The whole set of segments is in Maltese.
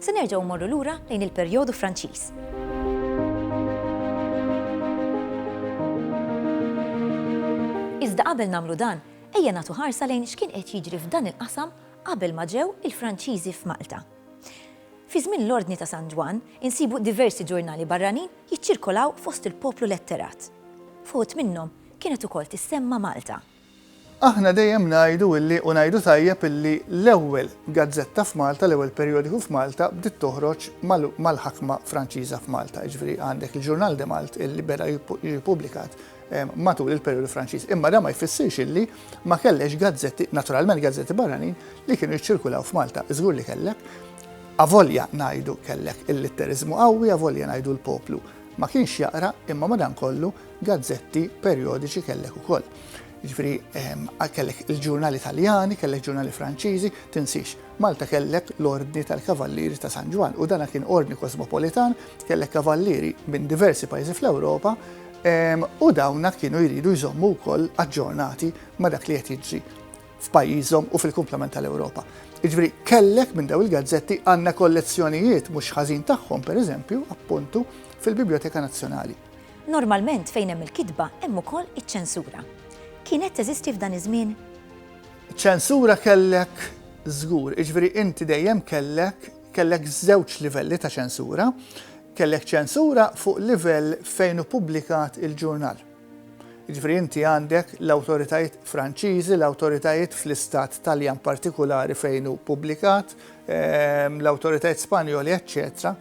Se nerġgħu mmorru lura lejn il-perjodu Franċiż. Iżda qabel nagħmlu dan, ejja nagħtu ħarsa lejn x'kien qed jiġri f'dan il-qasam qabel ma ġew il-Franċiżi f'Malta. Fi żmien l-Ordni ta' San Ġwann, insibu diversi ġurnali barranin jiċċirkolaw fost il-poplu letterat. Fuħut minnhom kienet ukoll tissemma Malta. Aħna dejjem ngħidu illi u ngħidu tajjeb illi l-ewwel gazzetta f'Malta, l-ewwel perjodiku f'Malta bdiet toħroġ mal-ħakma Franċiża f'Malta, jiġifieri għandek il-Journal de Malte illi beda jiġi pubblikat matul il-perjodu Franċiż. Imma dan ma jfissirx illi ma kellekx gazzetti, naturalment gazzetti barranin, li kienu jiċċirkulaw f'Malta. Żgur li kellek. Avolja ngħidu kellek il-litteriżmu qawwi, avolja ngħidu l-poplu ma kienx jaqra, imma madankollu, Gazzetti perjodiċi kellek ukoll. Jiġifieri ehm, kellek il-ġurnali Taljani, kellek ġurnali Franċiżi, tinsix. Malta kellek l-Ordni tal-Kavallieri ta' San Ġwan u dana kien ordni kosmopolitan, kellek kavallieri minn diversi pajjiżi fl-Ewropa ehm, u dawna kienu jridu jżommu wkoll aġġornati ma' dak li qed jiġri f'pajjiżhom u fil-kumplament tal-Ewropa. Iġveri, kellek minn daw il-gazzetti għanna kollezzjonijiet mhux ħażin tagħhom, per eżempju, appuntu, fil-Biblioteka Nazzjonali. Normalment fejn hemm il-kitba hemm ukoll iċ-ċensura. Kienet teżisti f'dan iż-żmien? Ċensura kellek żgur, jiġifieri inti dejjem kellek kellek żewġ livelli ta' ċensura. Kellek ċensura fuq livell fejn hu pubblikat il-ġurnal. Jiġifieri inti għandek l-awtoritajiet Franċiżi, l-awtoritajiet fl-istat Taljan partikulari fejn hu pubblikat, ehm, l-awtoritajiet Spanjoli, eċċetera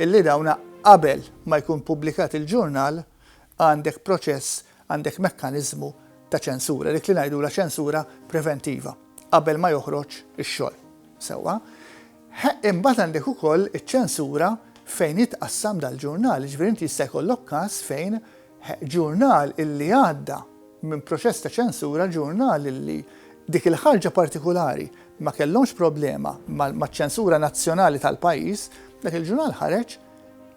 Illi dawn qabel ma jkun pubblikat il-ġurnal għandek proċess, għandek mekkaniżmu ta' ċensura, dik li ngħidulha ċensura preventiva, qabel ma joħroġ ix-xogħol. Sewwa? Ħa imbagħad għandek ukoll iċ-ċensura fejn jitqassam dal-ġurnal, jiġifieri inti jista' jkollok każ fejn ġurnal illi għadda minn proċess ta' ċensura, ġurnal illi dik il-ħarġa partikulari ma kellhomx problema maċ-ċensura nazzjonali tal-pajjiż, dak il-ġurnal ħareġ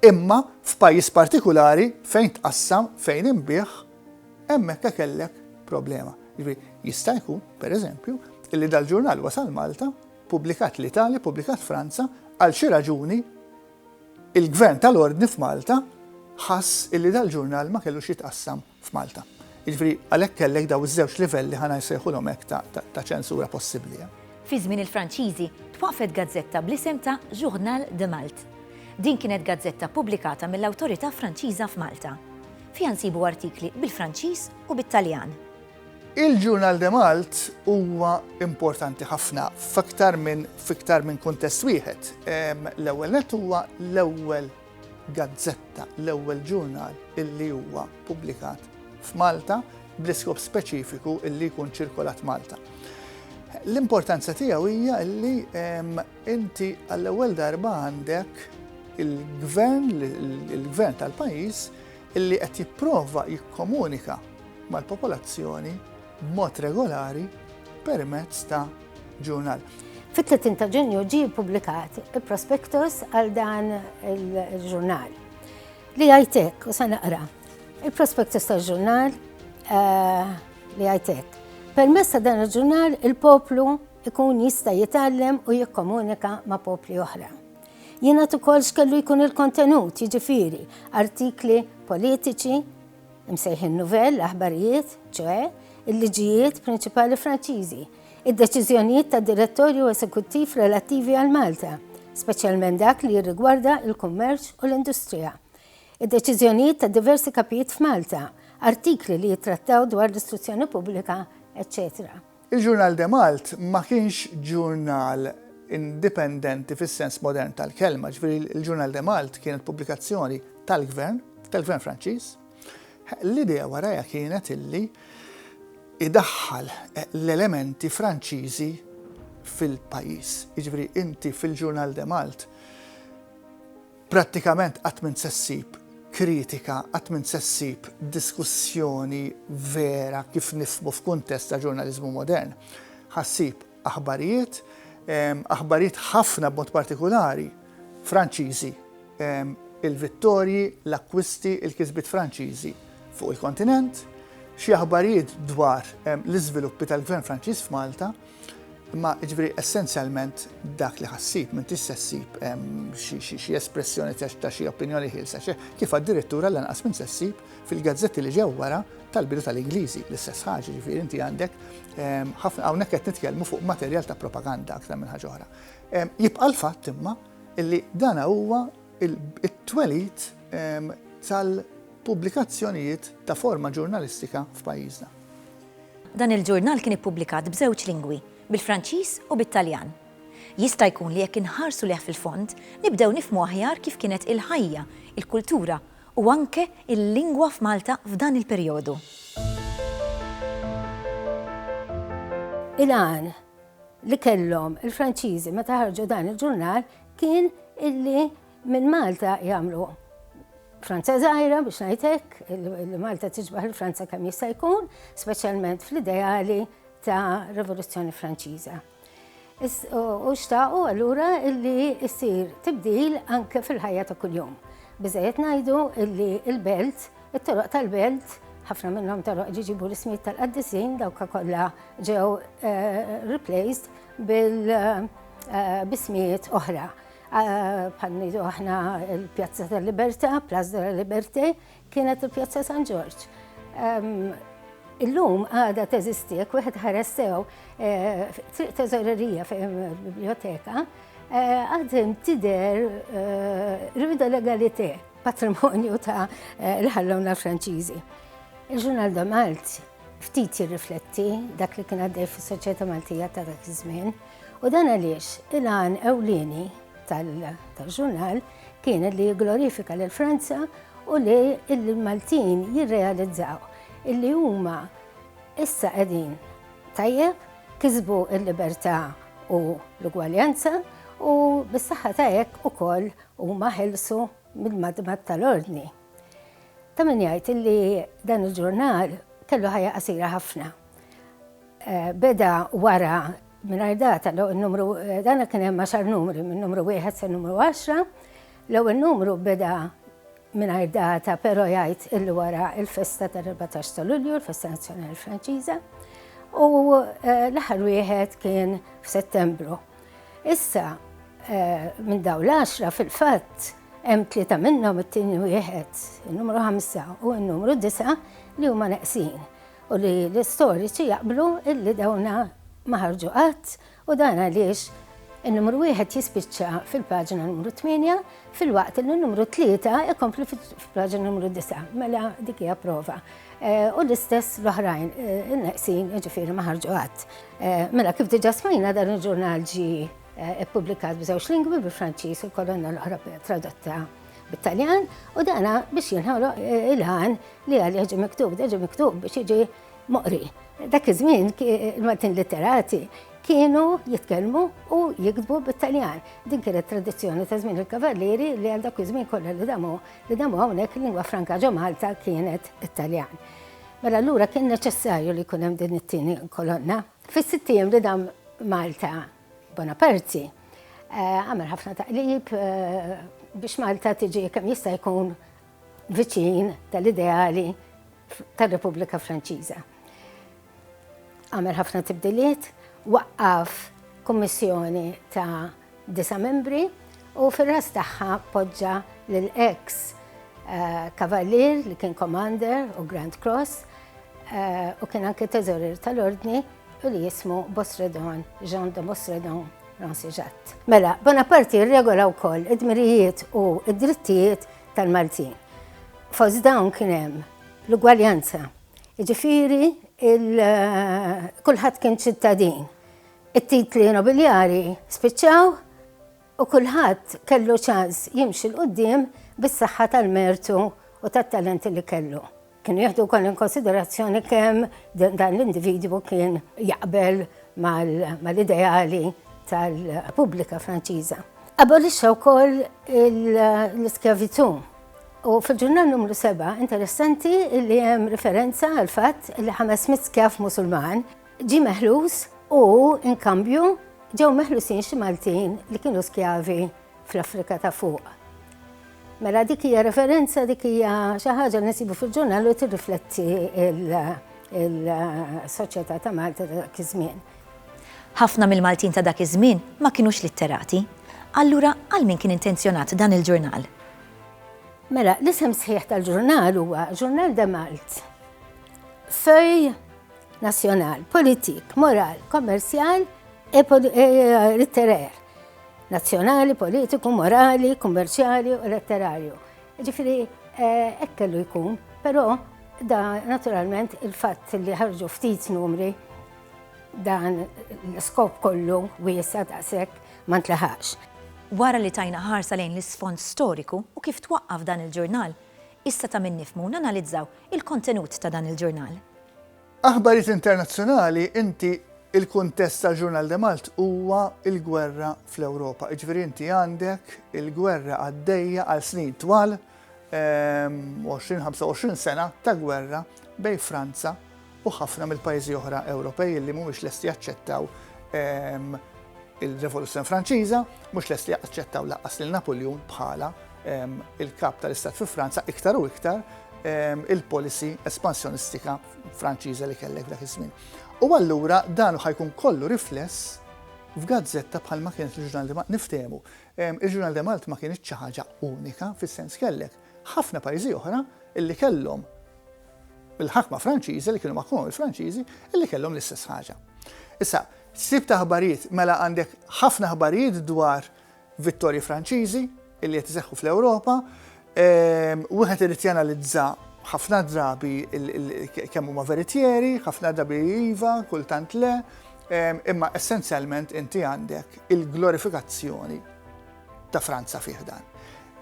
imma f'pajjiż partikulari fejn tqassam, fejn inbiegħ, hemmhekk hekk kellek problema. Jiġri, jista' jkun, pereżempju, illi dal-ġurnal wasal Malta, pubblikat l-Italja, pubblikat Franza, għal xi raġuni Il-Gvern tal-Ordni f'Malta ħass illi dal-ġurnal ma kellux jitqassam f'Malta. Jiġifieri għalhekk kellek dawn iż-żewġ livelli ħa nsejħulhom hekk ta' ċensura possibbli. Fi żmien il-Franċiżi twaqqfet gazzetta bl-isem ta' Journal de Malte. Din kienet gazzetta ppubblikata mill-awtorità Franċiża f'Malta. Fiha nsibu artikli bil-Franċiż u bit-Taljan. Il-Journal de Malt huwa importanti ħafna f'aktar minn f'iktar minn kuntest wieħed. L-ewwel nett huwa l-ewwel gazzetta, l-ewwel ġurnal illi huwa pubblikat f'Malta bl-iskop speċifiku illi jkun ċirkolat Malta. L-importanza tiegħu hija illi inti għall-ewwel darba għandek il-gvern, il-gvern tal-pajjiż illi qed jipprova jikkomunika mal-popolazzjoni b'mod regolari permezz ta' ġurnal. Fit-30 ta' Ġunju ġie ppubblikat il-prospektus għal dan il-ġurnal. Li għajtek, u sa naqra, il-prospektus ta' ġurnal eh, li għajtek. Permess ta' dan il-ġurnal il-poplu ikun jista' jitgħallem u jikkomunika ma' popli oħra. Jiena ukoll x'kellu jkun il-kontenut, jiġifieri artikli politiċi, imsejħin nouvelles, aħbarijiet, ċoe, il-liġijiet prinċipali Franċiżi, id-deċiżjonijiet ta' direttorju esekuttiv relattivi għal Malta, speċjalment dak li jirrigwarda il-kummerċ u l-industrija, id-deċiżjonijiet ta' diversi kapijiet f'Malta, artikli li jittrattaw dwar l-istruzzjoni pubblika, eċċetera. Il-Journal de Malte ma kienx ġurnal indipendenti fis-sens modern tal-kelma, jiġifieri il-Journal de Malte kienet pubblikazzjoni tal-gvern, tal-gvern Franċiż. L-idea warajha kienet illi idaħħal l-elementi Franċiżi fil-pajjiż. Jiġifieri inti fil-Journal de Malte Prattikament qatt m'int se ssib kritika, qatt m'int se ssib diskussjoni vera kif nifhmu f'kuntest ta' ġurnaliżmu modern. Ħa ssib aħbarijiet, aħbarijiet ħafna b'mod partikulari Franċiżi, il-vittorji, l-akkwisti, il-kisbiet Franċiżi fuq il-kontinent, xi aħbarijiet dwar l-iżviluppi tal-Gvern Franċiż f'Malta, Imma, jiġifieri, essenzjalment dak li ħa ssib, m'intix se ssib xi espressjoni ta' xi opinjoni ħielsa, kif addirittura lanqas m'int se ssib fil-gazzetti li ġew wara tal-bidu tal-Ingliżi l-istess ħaġa, jiġifieri inti għandek ħafna, hawnhekk qed nitkellmu fuq materjal ta' propaganda aktar minn ħaġa oħra. Jibqa' l-fatt imma li dan huwa t-twelid tal-pubblikazzjonijiet ta' forma ġurnalistika f'pajjiżna. Dan il-ġurnal kien ippubblikat b'żewġ lingwi, bil-Franċiż u bit-Taljan. Jista' jkun li jekk inħarsu lejh fil-fond, nibdew nifhmu aħjar kif kienet il-ħajja, il-kultura u anke l-lingwa f'Malta f'dan il-perjodu. Il-għan li kellhom il-Franċiżi meta ħarġu dan il-ġurnal kien illi Minn Malta jagħmlu Franza żgħira biex ngħid hekk, li Malta tiġbaħ il-Franza kemm jista' jkun, speċjalment fl-ideali ta' Rivoluzzjoni Franċiża. U xtaqu allura illi jsir tibdil anke fil-ħajja ta' kuljum. Biżejjed ngħidu illi il-belt, it-toroq tal-belt, ħafna minnhom toroq ġiġibu l-ismijiet tal-qaddisin dawk kollha ġew eh, replaced bil-bismijiet eh, oħra. Bħal ngħidu aħna l-Pjazza tal-Libertà, Place de la Liberté, kienet il-Pjazza San Ġorġ. Illum għada teżisti, jekk wieħed ħares sew eh, triq teżorerija fejn biblioteka, eh, għadem tider eh, rida legalité patrimonju ta' l-ħallona Franċiżi. Il-ġurnal da Malti ftit jirrifletti dak li kien għaddej fis-soċjetà Maltija ta' dak iż-żmien. U dan għaliex il-għan ewlieni tal-ġurnal kien li glorifika lil Franza u li l-Maltin jirrealizzaw illi huma issa qegħdin tajjeb kisbu l-libertà u l-ugwaljanza u bis-saħħa ta' hekk ukoll huma ħelsu mill-madmad tal-ordni. Ta' min jgħid illi dan il-ġurnal kellu ħajja qasira ħafna. Beda wara mingħajr data l-ewwel numru dan kien hemm għaxar numri minn numru wieħed sa numru għaxra. L-ewwel numru beda mingħajr data però jgħid illi wara il-festa tal-14 ta' Lulju, il-festa nazzjonali Franċiża, u eh, l-aħħar wieħed kien f'Settembru. Issa eh, minn daw l-10 fil-fatt hemm tlieta minnhom it-tieni wieħed, in-numru 5 u n-numru 9 li huma neqsin. u li l-istoriċi jaqblu illi dawna ma ħarġu qatt u dan għaliex in-numru wieħed jispiċċa fil-paġna numru 8 filwaqt li n-numru 3 ikompli fil-paġna numru 9. Mela dik hija prova. Eh, u l-istess l-oħrajn eh, in-neqsin jiġifieri ma ħarġu qatt. Eh, mela kif diġà smajna dan il-ġurnal ġi ippubblikat b'żewġ lingwi bil-Franċiż u l-kolonna l-oħra tradotta bit-Taljan u dana biex jinħoloq eh, il-ħan li għal jiġi miktub, jiġi miktub biex jiġi moqri. Dak iż-żmien il-Maltin litterati kienu jitkellmu u jiktbu bit-Taljan. Din kienet tradizzjoni ta' żmien il-Kavallieri li għal dak iż-żmien kollha li damu li damu hawnhekk lingwa franka ġo Malta kienet it-Taljan. Mela allura kien neċessarju li jkun hemm din it-tieni kolonna. Fis-sittijiem li dam Malta Bonaparti għamel ħafna taqlib biex Malta tiġi kemm jista' jkun viċin tal-ideali tal-Repubblika Franċiża. Għamel ħafna tibdiliet, waqqaf kummissjoni ta' disa membri u fir-ras tagħha poġġa lill-ex eh, Kavalier li kien Commander u Grand Cross eh, u kien anke teżorir tal-Ordni u li jismu Bosredon Jean de Bosredon Rancijatt. Mela, Bonaparte regola wkoll id-dmirijiet u id-drittijiet tal-Maltin. Fost dawn kien hemm l-ugwaljanza, ġifiri eh, kulħadd kien ċittadin. It-titli nobiljari spiċċaw u kulħadd kellu ċans jimxi l-qoddim bis-saħħa tal-mertu u tat-talenti li kellu. Kienu jieħdu wkoll inkonsiderazzjoni kemm dan l-individwu kien jaqbel mal-ideali tal-Repubblika Franċiża. Abolixxa wkoll l-iskjavitù. U fil-ġurnal numru 7 interessanti li hemm riferenza għal fatt li 500 skjav Musulman ġi meħlus u inkambju ġew meħlusin xi Maltin li kienu skjavi fl-Afrika ta' Fuq. Mela dik hija referenza dik hija xi ħaġa li nsibu fil-ġurnal u tirrifletti il-soċjetà ta' Malta ta' dak iż-żmien. Ħafna mill-Maltin ta' dak iż-żmien ma kinux litterati. Allura għal min kien intenzjonat dan il-ġurnal? Mela, l-isem sħiħ tal-ġurnal huwa Ġurnal de Malt. Fej nazzjonal, politik, moral, kommerċjal e, e litterer. Nazzjonali, politiku, morali, kummerċjali u letterarju. Ġifiri, eh, hekk kellu jkun, però da naturalment il-fatt li ħarġu ftit numri dan l-skop kollu wiesa daqshekk ma ntlaħax. Wara li tajna ħarsa lejn l-isfond storiku u kif twaqqaf dan il-ġurnal, issa ta' min nifmu nanalizzaw il-kontenut ta' dan il-ġurnal. Aħbarijiet internazzjonali, inti Il-kuntest tal-Ġurnal de Malt huwa il-gwerra fl-Ewropa. Iġveri inti għandek il-gwerra għaddejja għal snin twal 20-25 ehm, sena ta' gwerra bej Franza u ħafna mill-pajjiżi oħra Ewropej li mhumiex lesti jaċċettaw ehm, il-Revoluzzjoni Franċiża, mhux lesti jaċċettaw laqqas lil Napoljun bħala il-Kap tal-Istat fi Franza iktar u iktar il-policy espansjonistika Franċiża li kellek dak iż-żmien. U allura dan ħajkun kollu rifless f'gazzetta bħal ma kienet il-ġurnal Demalt niftehmu. Il-ġurnal Demalt ma kienet xi ħaġa unika fis-sens kellek ħafna pajjiżi oħra illi kellhom il-ħakma Franċiża li kienu maħkuma mill-Franċiżi illi kellhom l-istess ħaġa. Issa, sib ta' ħbarijiet, mela għandek ħafna ħbarijiet dwar vittorji Franċiżi li qed iseħħu fl-Ewropa, wieħed irid janalizza ħafna drabi kemm huma veritieri, ħafna drabi iva, kultant le, imma essenzjalment inti għandek il-glorifikazzjoni ta' Franza fih dan.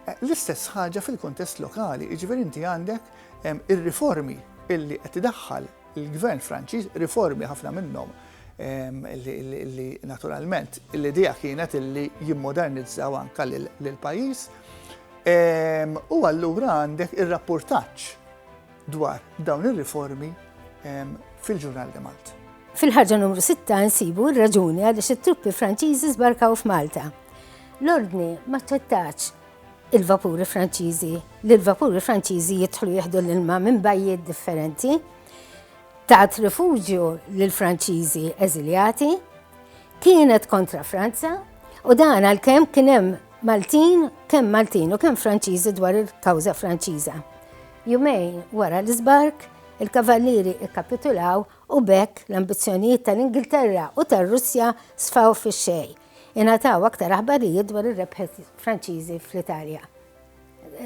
Eh, l-istess ħaġa fil-kontest lokali, iġveri inti għandek ir-riformi illi qed idaħħal Il-Gvern Franċiż, riformi ħafna minnhom li naturalment l-idea kienet li jimmodernizzaw anka l-pajjiż. U allura għandek ir-rapportaġġ dwar dawn ir-riformi fil-ġurnal de Malta. Fil-ħarġa numru 6 nsibu r-raġuni għaliex it-truppi Franċiżi żbarkaw f'Malta. L-ordni ma ċċettax il-vapuri Franċiżi, li l-vapuri Franċiżi jidħlu jieħdu l-ilma minn bajjiet differenti, tat rifuġju lill-Franċiżi eżiljati, kienet kontra Franza u dan għalkemm kien hemm Maltin, kemm Maltin u kemm Franċiżi dwar il-kawża Franċiża. Jumejn wara l-iżbark, il-Kavallieri ikkapitulaw u bekk l-ambizzjonijiet tal-Ingilterra u tar-Russja sfaw fix-xejn Ingħataw aktar aħbarijiet dwar ir-rebħiet Franċiżi fl-Italja.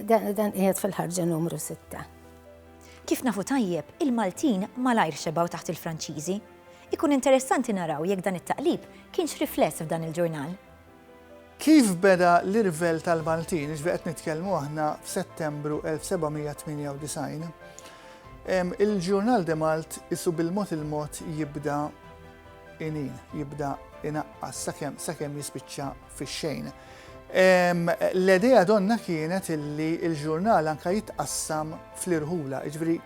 Dan qiegħed fil-ħarġa numru sitta. Kif nafu tajjeb, il-Maltin malajr xebgħu taħt il-Franċiżi. Ikun interessanti naraw jekk dan it-taqlib kienx rifless f'dan il-ġurnal. Kif beda l-irvell tal-Maltin, iġbi qed nitkellmu aħna f'Settembru 1798, il-ġurnal De Malt isu bil-mod il-mod jibda Inin, jibda inaqqas sakemm sakemm jispiċċa fix-xejn. L-idea donna kienet illi l-ġurnal anka jitqassam fl-irħula, jiġifieri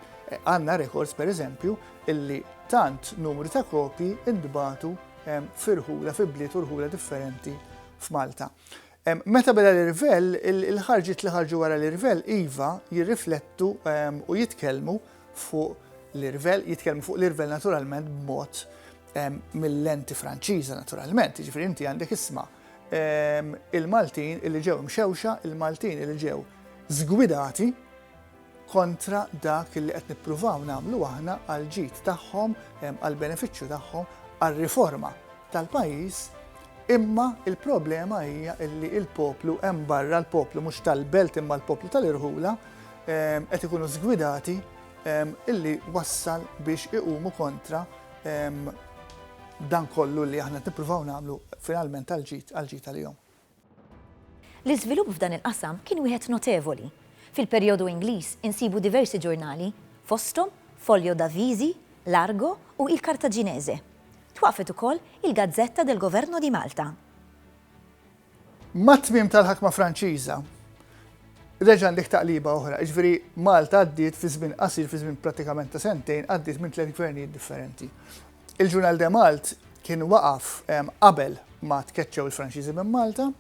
għandna rekords pereżempju illi tant numru ta' kopji ntbatu f'irħula fi bliet u rħula differenti f'Malta. Meta beda l-irvell, il-ħarġiet li ħarġu wara l-irvell, iva, jirriflettu u jitkellmu fuq l-irvell, jitkellmu fuq l-irvell naturalment b'mod mill-lenti Franċiża naturalment, jiġifieri inti għandek isma' il-Maltin li ġew imxewxa, il-Maltin li ġew żgwidati, kontra dak li qed nippruvaw nagħmlu aħna għall-ġid tagħhom, għall-benefiċċju tagħhom, għar-riforma tal-pajjiż, imma l-problema hija li l-poplu hemm barra, l-poplu mhux tal-Belt imma l-poplu tal-irħula, qed ikunu żgwidati illi wassal biex iqumu kontra dan kollu li aħna qed nippruvaw nagħmlu finalment għall-ġid għall-ġid għalihom. Ġeneral. L-iżvilupp f'dan il-qasam kien wieħed notevoli. Fil-perjodu Ingliż insibu diversi ġurnali, fosthom Folio d'Avvisi, Largo u Il Cartaginese. Twaqqfet ukoll il-Gazzetta del Governo di Malta. Mat-tmiem tal-ħakma Franċiża, reġa' nlik taqliba oħra, jiġifieri Malta għaddiet fi żmien qasir, fi żmien prattikament ta' sentejn, għaddiet minn tliet gvernijiet differenti. Il-Journal de Malte kien waqaf qabel ma tkeċċew il-Franċiżi minn Malta.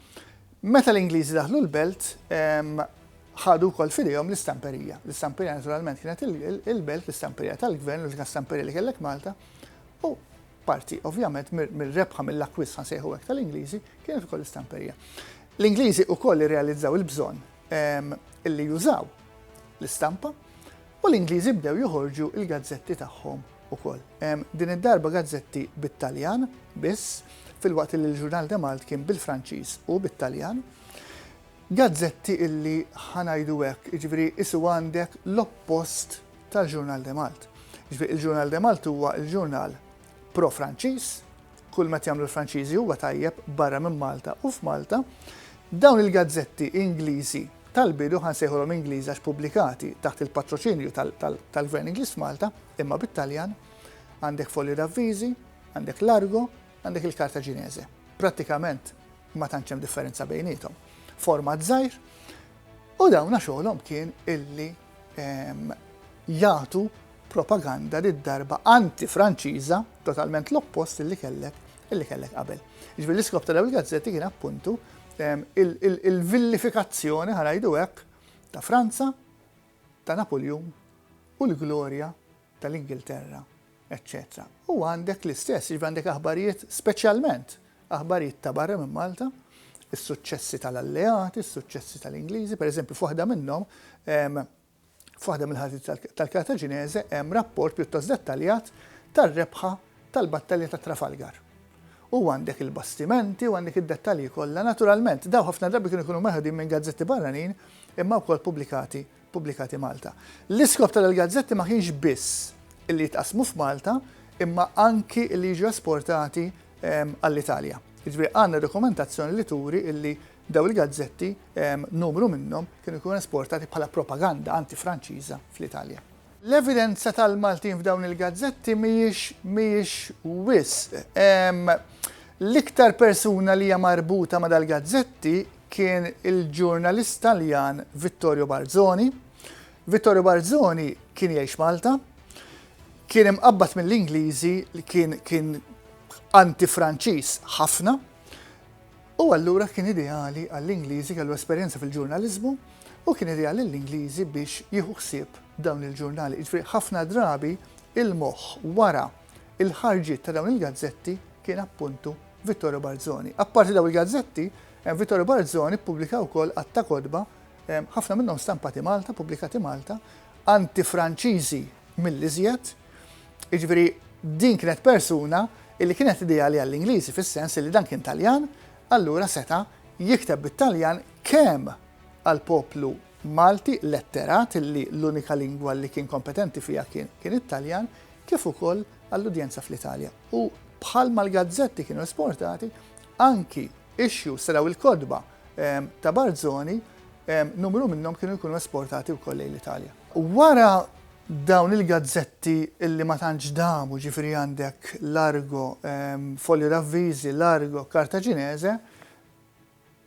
Meta l-Ingliżi daħlu l-belt, ħadu wkoll fidejhom l-istamperija. L-istamperija naturalment kienet il-belt, l-istamperija tal-gvern, l-unika stamperija li kellek Malta, u parti ovvjament mir-rebħa mill-akkwist ħansejħu hekk tal-Ingliżi kienet ukoll l-istamperija. L-Ingliżi ukoll irrealizzaw il-bżonn illi jużaw l-istampa U l-Ingliżi bdew joħorġu l-gazzetti tagħhom ukoll. Din id-darba gazzetti bit-Taljan biss, filwaqt li l-Journal de Malte kien bil-Franċiż u bit-Taljan. Gazzetti illi, ħa ngħidu hekk, jiġifieri qisu għandek l-oppost tal-Journal de Malte. Jiġifieri l-Journal de Malte huwa l-ġurnal pro Franċiż, kull ma qed jagħmlu l-Franċiżi huwa tajjeb barra minn Malta u f'Malta, dawn il-gazzetti Ingliżi tal-bidu, ħa nsejħulhom Ingliżi għax pubblikati taħt il-patroċinju tal-Gvern Ingliż f'Malta, imma bit-Taljan, għandek Folio d'Avviżi, għandek Largo, għandek il-Karta Ġinese. Prattikament ma tantx hemm differenza bejniethom. Format żgħir, U dawna xogħolhom kien illi jagħtu propaganda did-darba anti-Franċiża, totalment l-oppost illi kellek illi kellek qabel. Jiġifieri l-iskop ta' dawn il-gazzetti kien appuntu il-villifikazzjoni, ħa ngħidu hekk, ta' Franza, ta' Napuljun u l-glorja tal-Ingilterra. eċċetera U għandek l-istess, jiġifieri għandek aħbarijiet speċjalment aħbarijiet ta' barra minn Malta, is-suċċessi tal-Alleati, is-suċċessi tal-Ingliżi, pereżempju f'waħda minnhom f'waħda mill-ħadit tal-Kartaġineżi hemm rapport pjuttost dettaljat tar-rebħa tal-battalja ta' Trafalgar. U għandek il-bastimenti u għandek id-dettalji kollha, naturalment, daw ħafna drabi kienu jkunu meħdin minn gazzetti barranin imma wkoll pubblikati pubblikati Malta. L-iskop ta' dal-gazzetti ma kienx biss illi jitqassmu f'Malta imma anki illi jiġu esportati ehm, għall-Italja. Jiġifieri għandna dokumentazzjoni li turi illi daw il-gazzetti ehm, numru minnhom kienu jkunu esportati bħala propaganda anti-Franċiża fl-Italja. L-evidenza tal-Maltin f'dawn il-gazzetti mhijiex mhijiex wisq. Ehm, l-iktar persuna li hija marbuta ma' dal-gazzetti kien il-ġurnalist Taljan Vittorio Barzoni. Vittorio Barzoni kien jgħix Malta, kien imqabbad mill-Ingliżi li kien kien anti-Franċiż ħafna, u allura kien ideali għall-Ingliżi kellu esperjenza fil-ġurnaliżmu u kien ideali l-Ingliżi biex jieħu ħsieb dawn il-ġurnali. Ġifieri ħafna drabi il-moħħ wara il-ħarġiet ta' dawn il-gazzetti kien appuntu Vittorio Barzoni. Apparti dawn il-gazzetti, Vittorio Barzoni ppubblika wkoll għadd ta' kotba, ħafna minnhom stampati Malta, ppubblikati Malta, anti-Franċiżi mill-iżjed. Jiġifieri din kienet persuna li kienet ideali għall-Ingliżi fis-sens li dan kien Taljan, allura seta' jikteb bit-Taljan kemm għall-poplu Malti letterat li l-unika lingwa li kien kompetenti fiha kien it-Taljan, kif ukoll għall-udjenza fl-Italja. U bħalma l-gazzetti kienu esportati, anki issues ta' daw il-kotba ta' Barzoni, numru minnhom kienu jkunu esportati wkoll lejn l-Italja. Wara dawn il-gazzetti li ma tantx damu, ġifieri għandek l-Argo, Fogli Ravviżi, l-Argo, Cartaginese,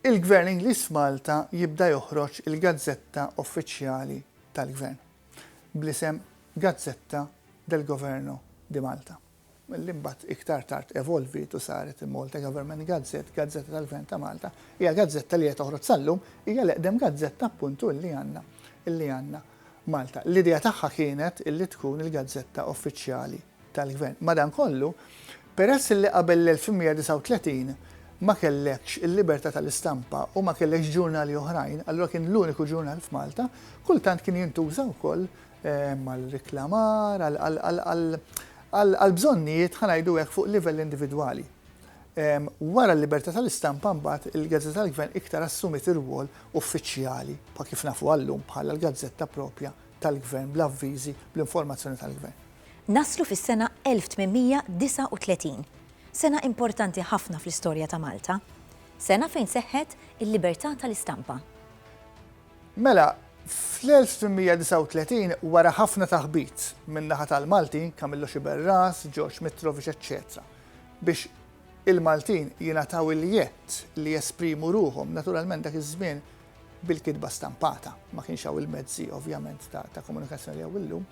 il-Gvern Ingliż f'Malta jibda joħroġ il-gazzetta uffiċjali tal-Gvern. bl-isem Gazzetta del Governo di Malta, li mbagħad iktar tard evolviet u saret il-Malta Government Gazette, Gazzetta tal-Gvern ta' Malta, hija gazzetta li qed toħroġ sal-lum, hija l-eqdem gazzetta appuntu li għandna li għandna Malta. L-idea tagħha kienet li tkun il-gazzetta uffiċjali. tal-Gvern. Madankollu, peress li qabel l-1839 ma kellekx il-libertà tal-istampa u ma kellekx ġurnali oħrajn, allura kien l-uniku ġurnal f'Malta, kultant kien jintuża wkoll għar-reklamar, għall-bżonnijiet, ħa ngħidu hekk, fuq livell individwali. Wara l-libertà tal-istampa mbagħad il-gazzetta tal-Gvern iktar assumiet ir-rwol uffiċjali, bħal kif nafuha llum, bħala l-gazzetta proprja tal-Gvern bl-avviżi, bl-informazzjoni tal-Gvern. Naslu fis-sena 1839, sena importanti ħafna fl-istorja ta' Malta, sena fejn seħħet il-libertà tal-istampa. Mela, fl-1839, wara ħafna taħbit min-naħa tal-Maltin, Camillo Sciberras, George Mitrovic eċċetera, biex il-Maltin jingħataw il-jedd li jesprimu ruħhom, naturalment dak iż-żmien bil-kitba stampata, ma kienx hawn il-mezzi ovvjament ta' komunikazzjoni li hawn illum,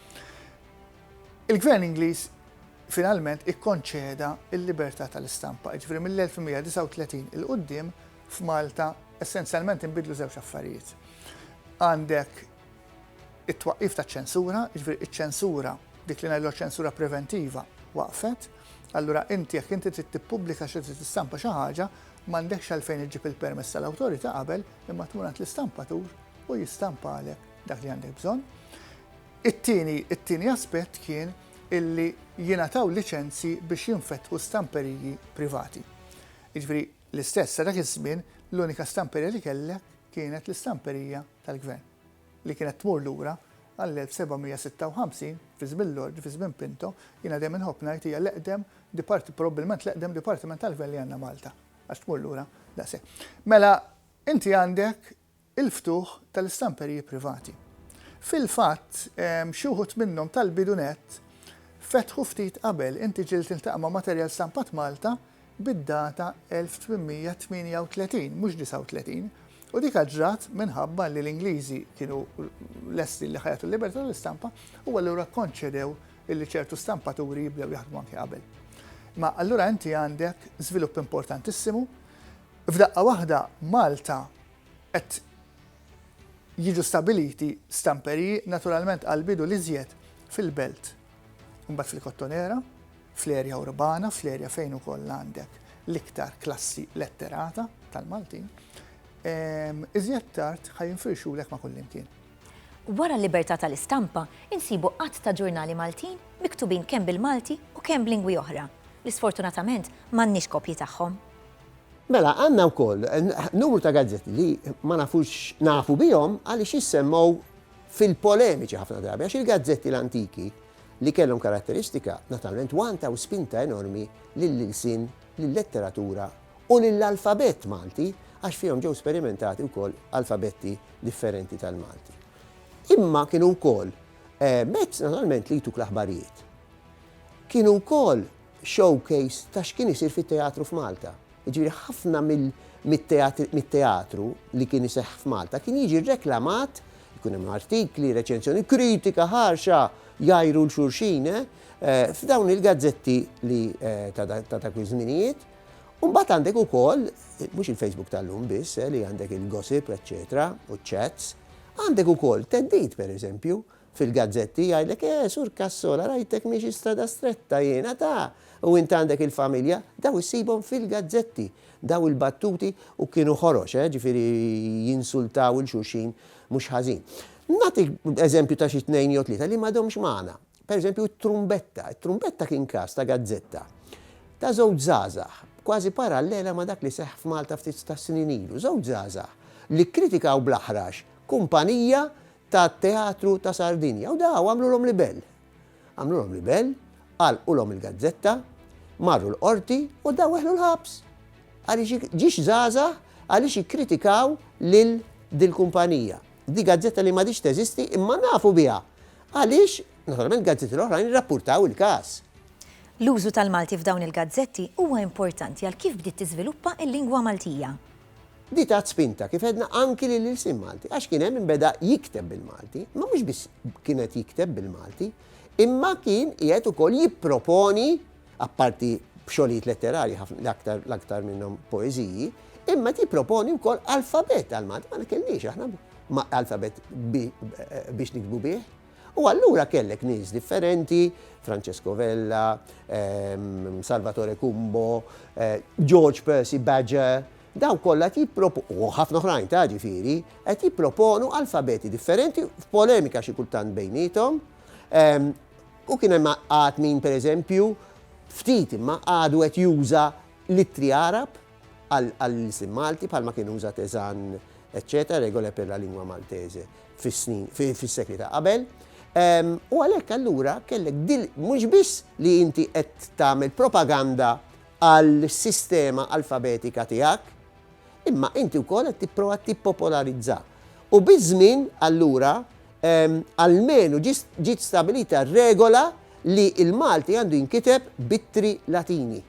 il-Gvern Ingliż finalment ikkonċeda l-libertà tal-istampa. Ġifieri mill-1139 il-qudiem f'Malta essenzjalment inbidlu żewġ affarijiet. Għandek It-twaqqif taċ-ċensura, jiġifieri iċ-ċensura, dik li ngħidilha ċensura preventiva, waqfet. Allura inti jekk inti trid tippubblika xi trid tistampa xi ħaġa, m'għandekx għalfejn iġġib il-permess tal-awtorità qabel imma tmur għand l-istampatur u jistampalek dak li għandek bżonn. It-tieni, it-tieni aspett kien illi jingħataw liċenzji biex jinfetħu stamperiji privati. Jiġifieri L-istess, sa dak iż-żmien l-unika stamperija li kellek kienet l-istamperija tal-Gvern, li kienet tmur lura għall-1756 fi żmien l-Ordni, fi żmien Pinto, jiena dejjem inħobb ngħid hija l-eqdem dipart, probbilment l-eqdem dipartiment tal-Gvern li għandna Malta, għax tmur lura daqshekk. Mela, inti għandek il-ftuħ tal-istamperiji privati. Fil-fatt, xi wħud minnhom tal-bidu nett fetħu ftit qabel, inti ġieli tiltaqa' ma' materjal stampat Malta bid-data 1838, mhux 39, u dik ġrat minħabba li l-Ingliżi kienu lesti li ħajatu l-libertà tal-istampa u allura kkonċedew illi ċertu stampaturi jibdew jaħdmu anke qabel. Ma allura inti għandek żvilupp importantissimu, f'daqqa waħda Malta Qed jiġu stabiliti stamperiji naturalment għall-bidu l-iżjed fil-belt, imbagħad fil-kottonera, fl-erja urbana, fl-erja fejn ukoll għandek l-iktar klassi letterata tal-Maltin, iżjed tard ħa jinfirxulek ma' kullimkien. Wara l-libertà tal-istampa, insibu għadd ta' ġurnali Maltin miktubin kemm bil-Malti u kemm b'lingwi oħra, li sfortunatament m'għandniex kopji tagħhom. Mela, għandna wkoll numru ta' gazzetti li ma nafux x'nafu bihom għaliex jissemmgħu fil-polemiċi ħafna drabi għax il-gazzetti l-antiki li kellhom karatteristika naturalment wantaw spinta enormi lill-ilsien, lil-letteratura u lill-alfabett Malti għax fihom ġew sperimentati wkoll alfabetti differenti tal-Malti. Imma kienu wkoll mezz naturalment li jtuk l-aħbarijiet. Kienu wkoll showcase ta' x'kien isir fit-teatru f'Malta. Jiġifieri ħafna mit-teatru li kien iseħħ f'Malta kien jiġi reklamat, ikun hemm artikli, reċensjoni, kritika ħarxa jgħajru 'l xulxin f'dawn il-gazzetti li ta' dak iż-żminijiet. U mbagħad għandek ukoll, mhux il-Facebook tal-lum biss li għandek il-gossip eċċetera u ċ-chats, għandek ukoll theddid pereżempju Fil-gazzetti jgħidlek, eh, Sur Cassola, rajtek miexi strada stretta jiena ta! u int għandek il-familja, daw issibhom fil-gazzetti, daw il-battuti u kienu ħorox, eh, ġifieri jinsultaw 'il xulxin mhux ħażin. Nagħtik eżempju ta' xi tnejn jew tlieta li m'għadhomx magħna. Per eżempju, it-Trumbetta. It-Trumbetta kien każ ta' gazzetta ta' żewġ żgħażagħ, kważi parallela ma' dak li seħħ f'Malta ftit tas-snin ilu, żewġ żgħażagħ li kkritikaw bl-aħrax kumpanija tat-Teatru ta' Sardinja u da għamlulhom libell. Għamlulhom libell, għalqulhom il-gazzetta, marru l-Qorti u da weħlu l-ħabs. Għaliex ik- ġiex żgħażagħ għaliex ikkritikaw lil dil-kumpanija. Di gazzetta li m'għadhiex teżisti imma nafu biha għaliex naturalment gazzetti l-oħrajn irrappurtaw il-każ. L-użu tal-Malti f'dawn il-gazzetti huwa importanti għal kif bdiet tiżviluppa l-lingwa Maltija. Di tat spinta, kif għedna, anki lill-ilsien Malti, għax kien hemm min beda jikteb bil-Malti, imma mhux biss kien qed jikteb bil-Malti, imma kien qiegħed ukoll jipproponi, apparti b'xogħlijiet letterarji ħafna, l-aktar l-aktar minnhom poeżiji, imma qed jipproponi wkoll alfabet għall-Malti, ma kellniex aħna alfabet biex nikbu bih. U allura kellek nies differenti, Francesco Vella, Salvatore Cumbo, George Percy Badger, daw kollha qed jipproponu, u ħafna oħrajn ta' ġifieri, qed jipproponu alfabeti differenti f'polemika xi kultant bejniethom, u kien hemm għad min pereżempju, ftit imma għadu qed juża l-ittri Għarab, għall-ilsien Malti bħalma kien uża Tezan eċċetera, Regole per la lingua maltese, fis-snin, fis-sekli ta' qabel. U għalhekk allura kellek dil mhux biss li inti qed tagħmel propaganda għall-sistema alfabetika tiegħek, imma inti wkoll qed tipprova tippopolarizza. U biż-żmien allura almenu ġiet stabilita regola li l-Malti għandu jinkiteb b'ittri Latini.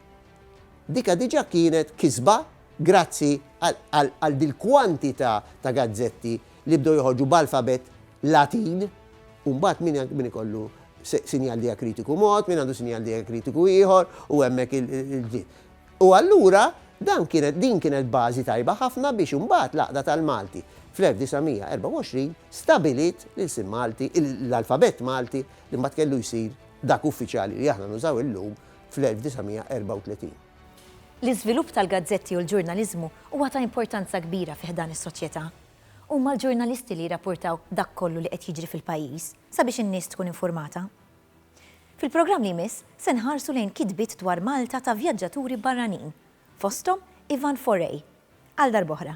Dika diġa kienet kisba grazzi għal dil-kwantita ta' gazzetti li bdew joħorġu b'alfabett Latin u mbagħad min ikollu sinjal dijakritiku mod, min għandu sinjal dijakritiku ieħor u hemmhekk il-ġdid. U allura dan kienet din kienet bażi tajba ħafna biex imbagħad l-Għaqda tal-Malti fl-1924 stabiliet l-ilsien Malti, l-alfabett Malti li mbagħad kellu jsir dak uffiċjali li aħna nużaw illum fl-1934. L-iżvilupp tal-gazzetti u l-ġurnaliżmu huwa ta' importanza kbira fi ħdan is-soċjetà. Huma l-ġurnalisti li jirrapportaw dak kollu li qed jiġri fil-pajjiż sabiex in-nies tkun infurmata. Fil-programm li jmiss se nħarsu lejn kitbiet dwar Malta ta' vjaġġaturi barranin, fosthom Ivan Forey. Għal darb'oħra.